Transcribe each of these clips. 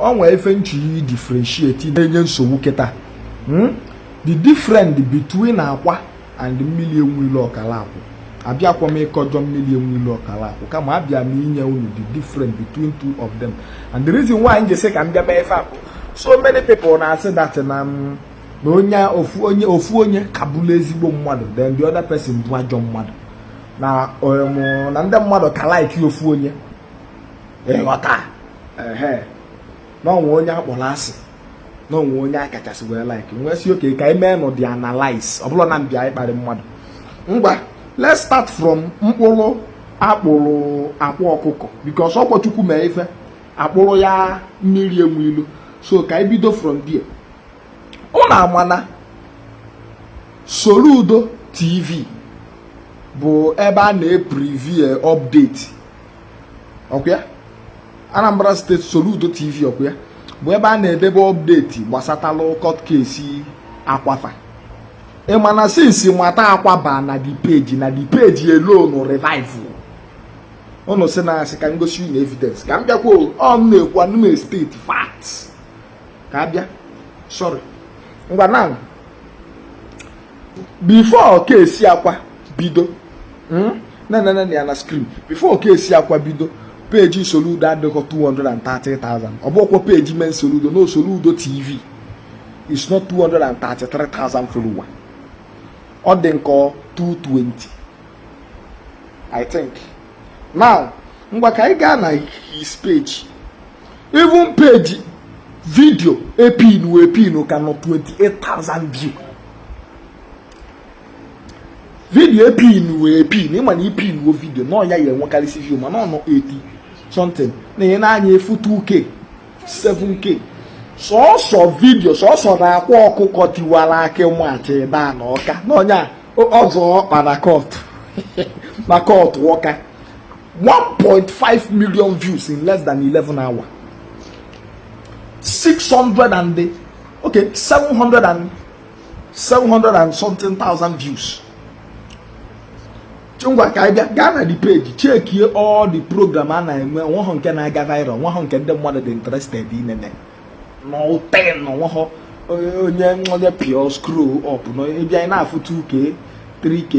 onwe ife m chọrọ i differentiate na-enye nsogbu kịta hmm? the different between akwa and mmiri enwe ilo ọkala akwụ abịakwọ m ịkọjọ mmiri enwe ilo ọkala akwụ kama abịa m inye unu the different between two of them and the reason why m ji sị ka m bịa mee ife a bụ so many people na-asị that na m mm, na onye ofu onye ofu onye ka bụrụ ezigbo mmadụ then the other person bụ ajọ mmadụ na um, na ndị mmadụ ka like ofu onye ịghọta ehe na onwe onye akpọrọ asị na onwe onye a kachasị wee like m wee sị okay ka anyị mee nụ the analyze ọ bụrọ na m bịa ịkparị mmadụ ngwa let's start from mkpụrụ akpụrụ akwa ọkụkọ because ọkwa chukwu mee ife akpụrụ ya mmiri enwe ilo so ka anyị bido from there unu amana Soludo TV bụ ebe a na-epreview update ọkwa ya Anambra State Soludo TV ọkwa ya bụ ebe a na-edebe update gbasatalụ court case akwa fa ị ma na since nwata akwa baa na the page na the page elonu revival unu sị na asị ka m gosi unu evidence ka m bịakwa ọ m na-ekwu anụ m state fact ka a bịa sorry ngwa na before case akwa bido hmm? nene nene ya na screen before case akwa bido page Soludo adịghọ 230,000 ọ bụkwa page main Soludo na Soludo TV is not 233,000 follower ọ dị m ka ọ 220 I think now ngwa ka anyị gaa na his page even page video epinu epinu ka nọ 28,000 view video epinu epin ịma na ipinuo video na ọ ya ya enwekarịsị view mana ọ nọ 80 something na ihe na-anya afụ 2k 7k sọsọ video sọsọ na akwa ọkụkọ tiwara akị march bịa na ọka na ọ ya azọ ọkpa na court na court ọka 1.5 million views in less than 11 hour 600 and the, okay 700 and 700 and something thousand views ngwa ka anyị gaa na the page chekie all the program a na-eme onwe nke na-aga viral onwe nke ndị mmadụ dị interested inene nothing onweghọ onye onye pịọ scroll up na ịbịa ị na-afụ 2k 3k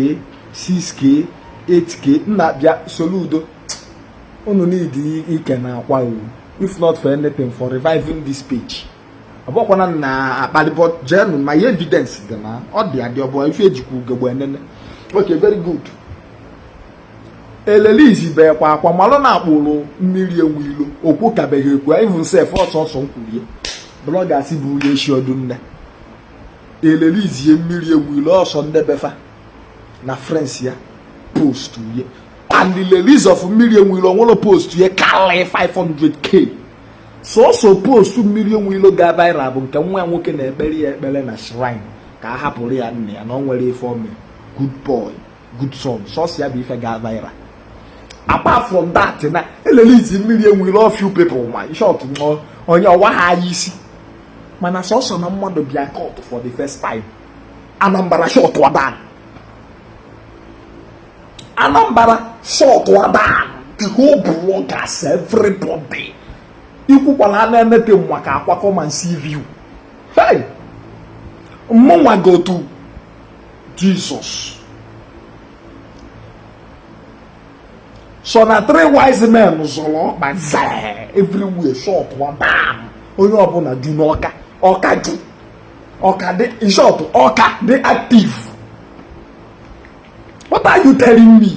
6k 8k nna bịa Soludo unu need ikene akwa o if not for anything for reviving this page ọbụkwana m na-akpali but jenu my evidence dị na ọ dị adị ọ bụ ife ejikwa ugegbe enene okay very good e release bekwa akwa malụ na akpụrụ mmiri enwe ilo okwu kabeghị ekwu even sef ọ sọsọ nkwurie bloggers bụ onye eshi ọdụ nne e release mmiri enwe ilo ọ sọ ndị be fa na friends ya post ya and the release of mmiri enwe ilo nwere post ya karịrị 500k sọsọ post mmiri enwe ilo ga viral bụ nke nwa ya nwoke na-ekpere ya ekpere na shrine ka a hapụrụ ya nne ya na ọ nwere ife ome good boy good son sọsọ ya bụ ife ga viral apart from that na e release mmiri enwe ilo few people ma short nọ onye ọwa ha anya isi mana sọsọ na mmadụ bịa court for the first time Anambra shut down Anambra shut down the whole bloggers everybody ikwukwala anything maka Akwa come and see view hey mụnwa go to Jesus. So na three wise men zọrọ ọkpa zaa everywhere shut wa bam onye ọbụla ju n'ọka ọka ju ọka dị in short ọka dị active what are you telling me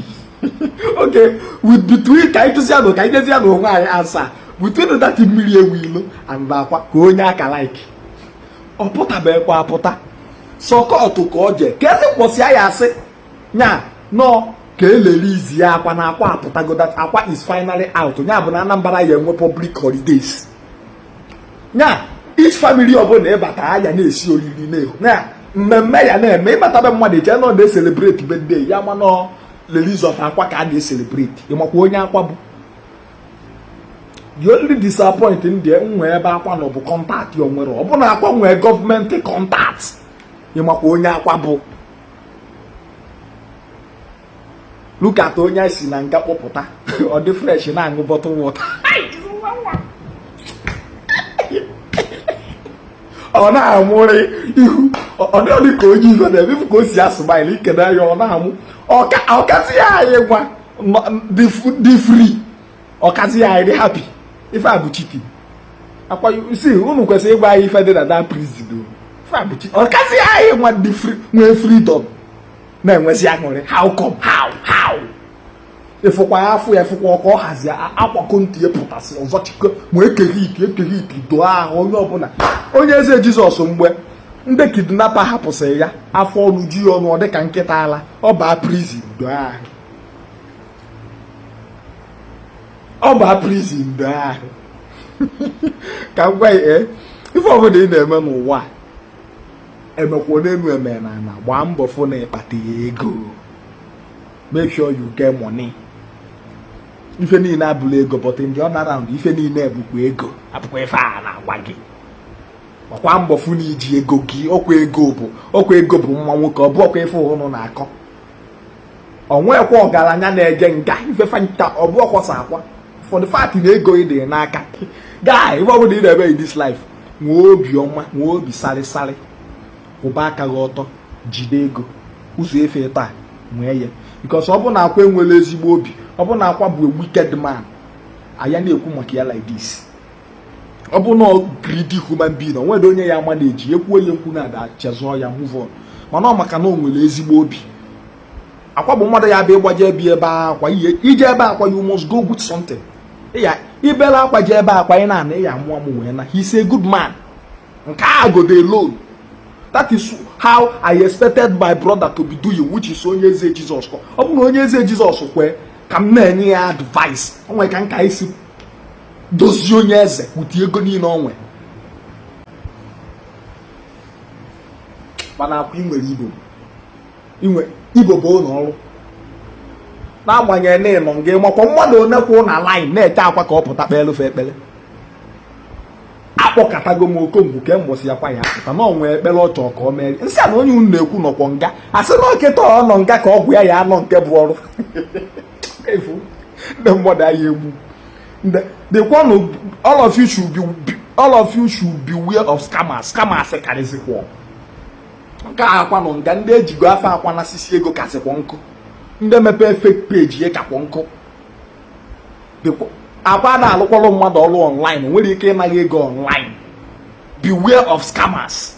okay wait between ka anyị jụzianụ ka anyị jụzianụ onwe anyị answer between that mmiri enwe ilo and akwa kee onye a ka like ọ pụtabekwa apụta sọ court ka ọ je kezi mbọsị a ya-asị nya nọ ka e releasezia akwa na akwa apụtago that akwa is finally out nya bụ na Anambra ya-enwe public holidays nya each family ọbụla ị bata a ya na-esi oriri na-ehu na mmemme ya na-eme ị batabe mmadụ eche na ọ na-ecelebrate birthday ya mana ọ release of akwa ka a na-ecelebrate ị makwa onye akwa bụ the only disappoint ndị nwe ebe akwa nọ bụ contact o nwere ọ bụ na akwa nwee government contact ị makwa onye akwa bụ look at onye e si na nga kpọpụta ọ dị fresh na-aṅụ bottle water ọ na-amụrị ihu ọ dịghị ka onye ife na-eme ka o si a smile i kene ya ọ na-amụ ọ kazịa anyị nwa dị free ọ kazịa dị happy ife a bụ cheating akwa si unu kwesịrị ịgwa anyị ife dị na that prison ife a bụ cheating ọ kazịa anyị nwa dị free nwee freedom na-enwezi aṅụrị how come how how ịfụkwa ya afọ ya ịfụkwa ọkụ ọ hazi Akwa ka ntị ya pụtasị ọzọ chikọ ma Eke Hit Eke Hit doo ahụ onye ọbụla Onye Eze Jesus mgbe ndị kidnapper hapụsịrị ya afọ ọnụ ju ya ọnụ ọ dịka nkịta ala ọ baa prison doo ahụ ọ bụ prison mgbe ahụ ka m gwa ya eh, ife ọbụla ị na-eme n'ụwa emekwa n'elu eme n'ana gbaa mbọ fụ na ị kpata ego make sure you get money ife niile abụla ego but in the other round ife niile bụkwa ego abụkwa ife a na-agwa gị ọkwa mbọ fụ na i ji ego gị ọkwa ego bụ ọkwa ego bụ nwa nwoke ọ bụ ọkwa ife ụnụ na-akọ o nwekwa ọgaranya na-eje nga ifefe nka ọ bụ ọkwọsa akwa for the fact na ego ị dị n'aka guy ife ọbụla ị na-eme in this life nwee obi ọma nwee obi sarịsarị kwụba aka gị ọtọ jide ego ụzọ efe taa nwee ya because ọ bụ na akwa enwerọ ezigbo obi ọ bụ na akwa bụ a wicked man a ya na-ekwu maka ya like this ọ bụ na greedy human being o nwere onye ya ama na-eji ekwuo ya ekwu na-ada chezọọ ya move on mana ọ maka na o nwere ezigbo obi akwa bụ mmadụ ya abịa ị gbaje ebi ebe akwa i je ebe akwa you must go with something i bele akwa je ebe akwa ị na-ana ị ya amụ amụ wee naa he's a good man nke a godo alone that is how i expected my brother to be doing which is onye eze jesus ọ bụ na onye eze jesus kwee ka m na-enye ya advice o nwere ka m ka-esi dozie onye eze ụdị ego niile o nwere mana akwa inwere ibo inwe ibo bụ ụlọ ọrụ n'agbanyeghị na ị nọ nga ị makwa mmadụ one kwụ na line na-eche akwa ka ọ pụta kpeere fa ekpere a kpọkatago m oku ngwa kee mbọsị akwa ya apụta na o nwe ekpere ọ chọọ ka o mere m sị ya na onye unu na-ekwu nọkwa nga a sị na ọ kịta ọ nọ nga ka ọgwụ ya ya alụ nke bụ ọrụ efu ndị mmadụ anyị egbu the one all of you should be all of you should beware of scammers scammers karịzịkwa nke a akwa nọ nga ndị ejigo afa akwa nasisi ego kasịkwa nkụ ndị mepee fake page ya kakwa nkụ akwa ada alụkwalụ mmadụ ọrụ online nwere ike ịna gị ego online beware of scammers